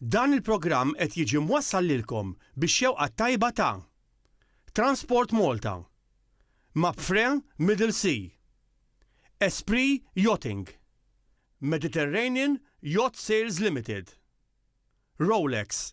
Dan il-programm qed jiġi mwassal lilkom bix-xewqa t-tajba ta' Transport Malta, Mapfre Middle Sea, Esprit Yachting, Mediterranean Yacht Sales Limited, Rolex,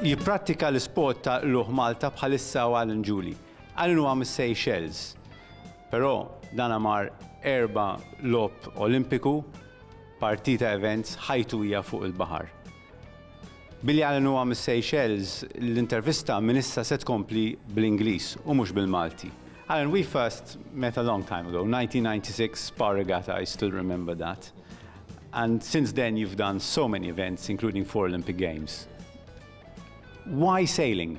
Jipprattika l-isport ta' Qlugħ Malta bħalissa hu Alan Julie. Alan huwa mis-Seychelles, però dan mar erba' Logħob Olimpiku, partita events, ħajtu hija fuq il-baħar. Billi Allen huwa mis-Seychelles, l-intervista minn issa se tkompli bl-Ingliż u mhux bil-Malti. Allen, we first met a long time ago, 1996 Spa Regatta, I still remember that. And since then you've done so many events, including four Olympic Games. Why sailing?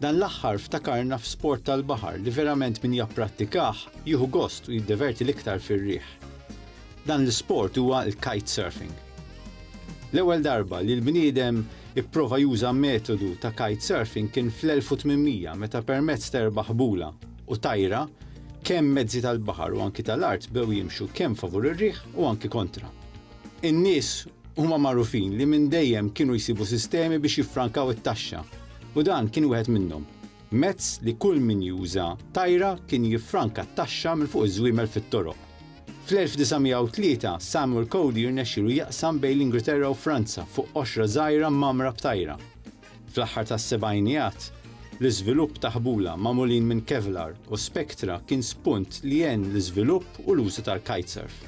Dan l-aħħar ftakarna f'sport tal-baħar li verament min japprattikah jieħu gost u jiddeverti l-iktar fir-riħ. Dan l-isport huwa l-kite surfing. L-ewwel darba li l-bniedem ipprova juża metodu ta' kite surfing kien fl-1800 meta permezz ta' erba' ħbula u tajra kemm mezzi tal-baħar u anki tal-art bew jimxu kemm favur ir-riħ u anki kontra. In-nies huma magħrufin li minn dejjem kienu jsibu sistemi biex jiffrankaw it-taxxa u dan kien wieħed minnhom. Mezz li kull min juża tajra kien jiffranka t-taxxa minn fuq iż-żwiemel fit-toroq. Fl-1903, Samuel Cody rnexxielu jaqsam bejn l-Ingilterra u Franza fuq qoxra żgħira mgħammra b'tajra. Fl-aħħar tas-sebgħinijat, l-iżvilupp ta' ħbula magħmulin minn Kevlar u Spectra kien spunt li għen l-iżvilupp u l-użu tal-kitesurf.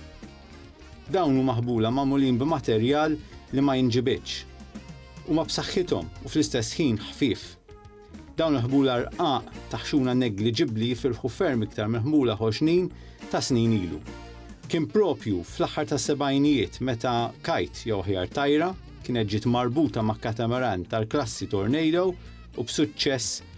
Dawn huma ħbula magħmulin b'materjal li ma jinġibidx. Huma b'saħħithom u fl-istess ħin ħfief. Dawn il-ħbula rqaq ta' ħxuna negliġibbli jifirħu ferm iktar minn ħbula ħoxnin ta' snin ilu. Kien proprju fl-aħħar tas-sebgħinijiet meta kite, jew aħjar tajra, kienet ġiet marbuta ma' katamaran tal-klassi Tornado u b'suċċess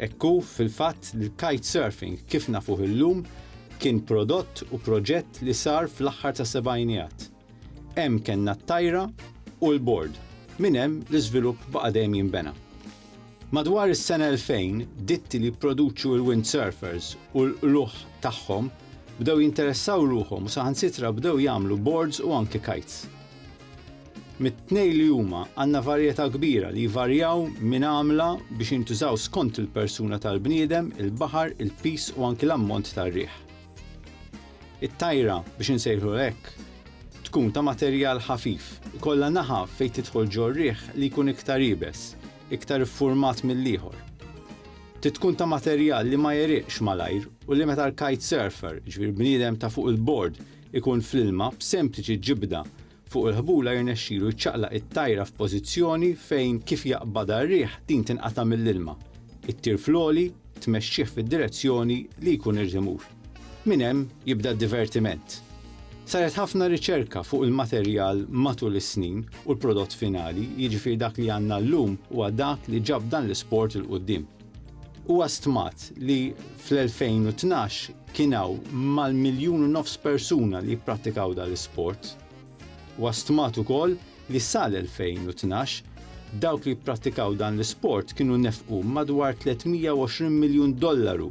Hekk hu, fil-fatt, li l-kitesurfing, kif nafuh illum, kien prodott u proġett li sar fl-aħħar tas-sebgħinijat. Hemm kellna t-tajra u l-bord, minn hemm l-iżvilupp baqa' dejjem jinbena. Madwar is-sena 2000, ditti li jipproduċu l-windsurfers u l-qlugħ tagħhom bdew jinteressaw ruħhom u saħansitra bdew jagħmlu bords u anki kites. Mit-tnejn li huma għandna varjetà kbira li jvarjaw minn għamla biex jintużaw skont il-persuna tal-bniedem, il-baħar, il-piż u anki l-ammont tar-riħ. It-tajra, biex insejħlulha hekk, tkun ta' materjal ħafif, ikollha naħa fejn tidħol ġor-riħ li jkun iktar iebes, iktar iffurmat mill-ieħor. Trid tkun ta' materjal li ma jegħriqx malajr u li meta l-kitesurfer, jiġifieri l-bniedem ta' fuq il-bord, ikun fl-ilma b'sempliċi ġibda fuq il-ħbula jirnexxilu jċaqlaq it-tajra f'pożizzjoni fejn kif jaqbadha r-riħ din tinqata' mill-ilma, ittir fl-għoli, tmexxih fid-direzzjoni li jkun irid imur. Minn hemm jibda d-divertiment. Saret ħafna riċerka fuq il-materjal matul is-snin u l-prodott finali, jiġifieri dak li għandna llum huwa dak li ġab dan l-isport 'il quddiem. Huwa stmat li fl-2012 kien hawn mal-miljun u nofs persuna li jipprattikaw dan l-isport. Huwa stmat ukoll li sal-2012, dawk li jipprattikaw dan l-isport kienu nefqu madwar 320 miljun dollaru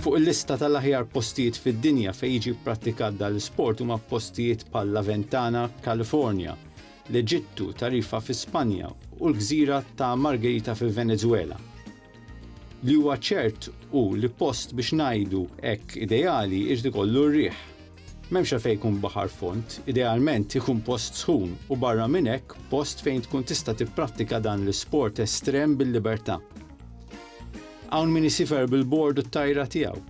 Fuq il-lista tal-aħjar postijiet fid-dinja fejn jiġi pprattikat dan l-isport huma postijiet bħal Laventana, Kalifornja, l-Eġittu, Tarifa fi Spanja u l-gżira ta' Margherita fil-Venezuela. Li huwa ċert hu li post biex ngħidu hekk ideali jrid ikollu r-riħ. M'hemmx għalfejn jkun baħar fond, idealment ikun post sħun u barra minn hekk post fejn tkun tista' tipprattika dan l-isport estrem bil-libertà. Hawn min isifer bil-bord u t-tajra tiegħu,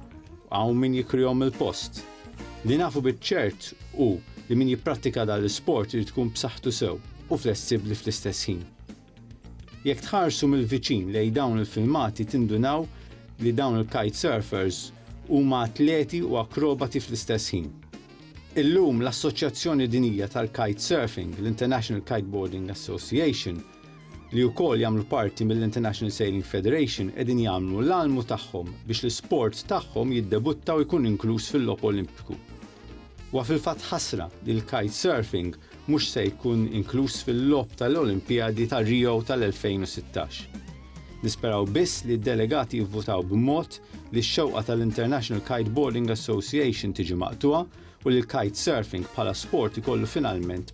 hawn min jikrihom mill-post. Li nafu biċ-ċert hu li min jipprattika dan l-isport irid ikun b'saħħtu sew u flessibbli fl-istess ħin. Jekk tħarsu mill-viċin lejn dawn il-filmati tindunaw li dawn il-kite surfers huma atleti u akrobati fl-istess ħin. Illum l-Assoċjazzjoni Dinjija tal-Kite Surfing, l-International Kiteboarding Association, li wkoll jagħmlu parti mill-International Sailing Federation qegħdin jagħmlu l-almu tagħhom biex l-isport tagħhom jiddebutta u jkun inkluż fil-Logħob Olimpiku. Huwa fil-fatt ħasra li l-kitesurfing mhux se jkun inkluż fil-Logħob tal-Olimpijadi ta' Rio tal-2016. Nisperaw biss li d-delegati jivvutaw b'mod li x-xewqa tal-International Kiteboarding Association tiġi maqtugħa u li l-kitesurfing bħala sport ikollu finalment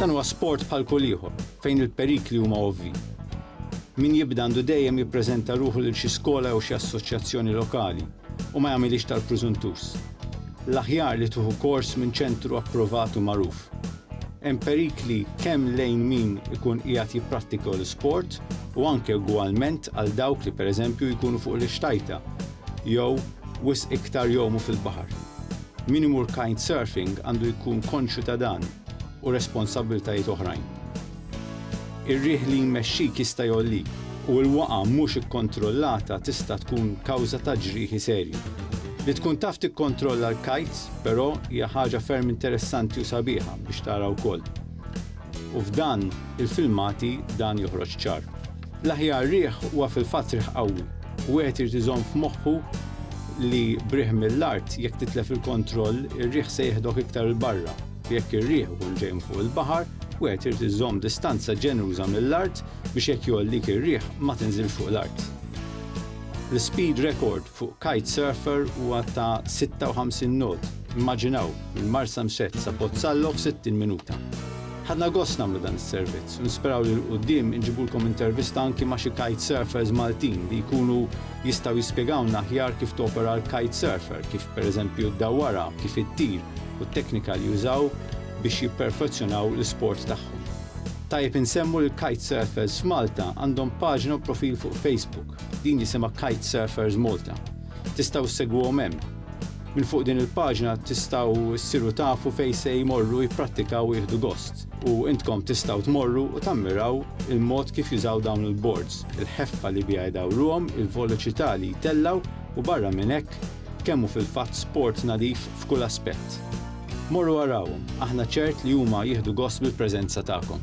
Dan huwa sport bħal kull ieħor fejn il-perikli huma ovvji. Min jibda għandu dejjem jippreżenta ruħu lil xi skola jew xi assoċjazzjoni lokali u ma jagħmilhiex tal-prużuntus. L-aħjar li tuħu kors minn ċentru approvat u magħruf. Hemm perikli kemm lejn min ikun qiegħed jipprattika l-isport u anke ugwalment għal dawk li pereżempju jkunu fuq l-ixtajta jew wisq iktar jgħumu fil-baħar. Min imur kitesurfing għandu jkun konxju ta' dan u responsabbiltajiet oħrajn. Ir-riħ li jmexxik jista' jgħollik u l-waqgħa mhux ikkontrollata tista' tkun kawża ta' ġrieħi serji. Li tkun taf tikkontrolla l-kites, però, hija ħaġa ferm interessanti u sabiħa biex tara wkoll. U f'dan il-filmati dan joħroġ ċar. L-aħjar riħ huwa fil-fatt riħ qawwi. Wieħed irid iżomm f'moħħu li b'riħ mill-art, jekk titlef il-kontroll, ir-riħ se jeħdok iktar 'il barra. U jekk ir-riħ ikun ġej minn fuq il-baħar, wieħed irid iżomm distanza ġeneruża mill-art biex jekk jgħollik ir-riħ ma tinżilx fuq l-art. L-ispeed rekord Fuq kite surfer huwa ta' 56 knot, immaġinaw, minn Marsamxett sa Pozzallo f'60 minuta. Ħadna gost nagħmlu dan is-servizz u nisperaw li 'l quddiem inġibulkom intervista anki ma' xi kite surfers Maltin li jkunu jistgħu jispjegawlna aħjar kif topera l-kite surfer, kif per eżempju ddawwarha, kif ittir u t-teknika li jużaw biex jipperfezzjonaw l-isport tagħhom. Tajjeb insemmu li l-kite surfers f'Malta għandhom paġna u profil fuq Facebook. Din jisimha Kite Surfers Malta. Tistgħu ssegwuhom hemm. Minn fuq din il-paġna tistgħu ssiru tafu fejn se jmorru jipprattikaw u jieħdu gost. U intkom tistgħu tmorru u tammiraw il-mod kif jużaw dawn il-boards, il-ħeffa li biha jdawruhom, il-voloċità li jtellgħu u barra minn hekk, kemm hu fil-fatt sport nadif f'kull aspett. Morru arawhom, aħna ċert li huma jieħdu gost bil-preżenza tagħkom.